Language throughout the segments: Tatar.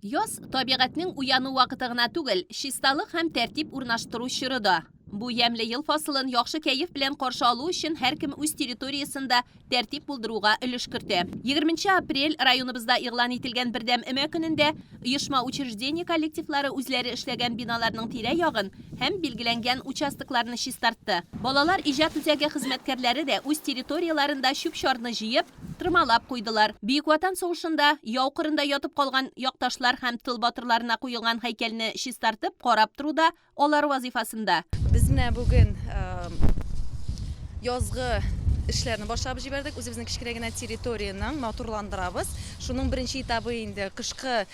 Яз, табигатьнең уяну вакыты гына түгел, чисталык һәм тәртип урнаштыру чоры да. Бу ямьле ел фасылын яхшы кәеф белән каршы алу өчен һәркем үз территориясендә тәртип булдыруга өлеш кертә. Егерменче апрель, районыбызда игълан ителгән Бердәм өмә көнендә, оешма-учреждение коллективлары үзләре эшләгән биналарның тирә-ягын һәм билгеләнгән участокларны чистартты. Балалар иҗат үзәге хезмәткәрләре дә үз территорияләрендә чүп-чарны җыеп, Тырмалап куйдылар. Бөек Ватан сугышында яу кырында ятып калган якташлар һәм тыл батырларына куелган һәйкәлне чистартып, карап тору да алар вазыйфасында. Без менә бүген язгы эшләрне башлап җибәрдек. Үзебезнең кечкенә генә территорияне матурландырабыз. Шуның беренче этабы инде кышкы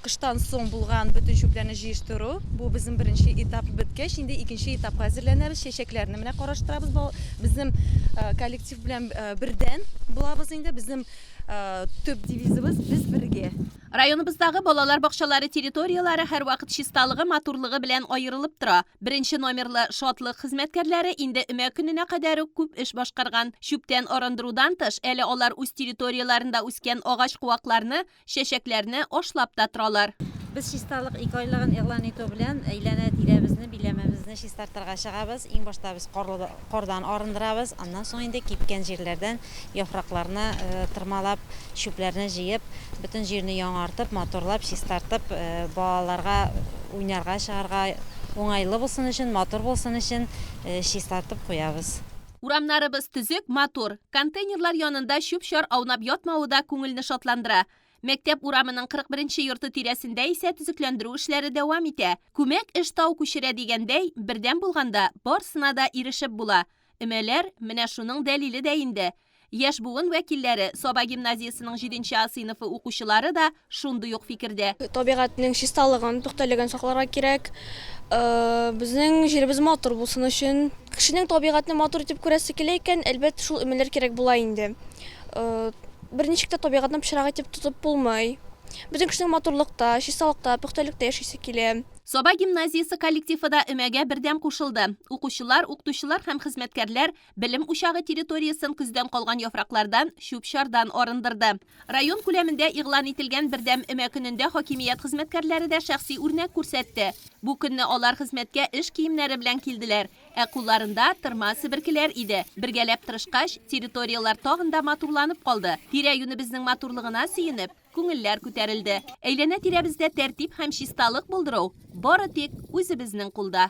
Кыштан соң булган бөтен чүпләрне җыештыру. Бу безнең беренче этап беткәч, инде икенче этапка әзерләнәбез. Чәчәкләрне менә караштырабыз. Безнең коллектив белән бердән булабыз инде. Безнең төп девизыбыз без бергә. Районыбыздагы балалар бакчалары территорияләре һәрвакыт чисталыгы, матурлыгы белән аерылып тора. Беренче номерлы Шатлык хезмәткәрләре инде өмә көненә кадәр үк күп эш башкарган. Чүптән арындырудан тыш, әле алар үз территорияләрендә үскән агач-куакларны, Чәчәкләрне ашлап та торалар. Без чисталык ике айлыгын игълан итү белән әйләнә-тирәбезне, биләмәбезне чистартырга чыгабыз. Иң башта без карлы кардан арындырабыз, аннан соң инде кипкән җирләрдән яфракларны тырмалап, чүпләрне җыеп, бөтен җирне яңартып, матурлап, чистартып, балаларга уйнарга чыгарга уңайлы булсын өчен, матур булсын өчен чистартып куябыз. Урамнарыбыз төзек, матур. Контейнерлар янында чүп-чар аунап ятмавы да күңелне шатландыра. Мәктәп урамының 41-нче йорты тирәсендә исә төзекләндерү эшләре дәвам итә. Күмәк эш тау күчерә дигәндәй, бердәм булганда, барсына да ирешеп була. Өмәләр, менә шуның дәлиле дә инде. Яшь буын вәкилләре, Саба гимназиясенең җиденче А сыйныфы укучылары да шундый ук фикердә. Табигатьнең чисталыгын, пөхтәлеген сакларга кирәк. Безнең җиребез матур булсын өчен. Кешенең табигатьне матур итеп күрәсе килә икән, әлбәт, шул өмәләр кирәк була инде. Берничек тә табигатьне пычрак итеп тотып булмый. Бөтен кешенең матурлыкта, чисталыкта, пөхтәлектә яшисе килә. Саба гимназиясе коллективы да өмәгә бердәм кушылды. Укучылар, укытучылар һәм хезмәткәрләр Белем учагы территориясен көздән калган яфраклардан, чүп-чардан арындырды. Район күләмендә игълан ителгән Бердәм өмә көнендә хакимият хезмәткәрләре дә шәхси үрнәк күрсәтте. Бу көнне алар хезмәткә эш киемнәре белән килделәр, ә кулларында, тырма, себеркеләр иде. Бергәләп тырышкач, территорияләр тагын да матурланып калды. Тирә-юнебезнең матурлыгына сөенеп, күңелләр күтәрелде. Әйләнә-тирәбездә тәртип һәм чисталык булдыру, бары тик үзебезнең кулда.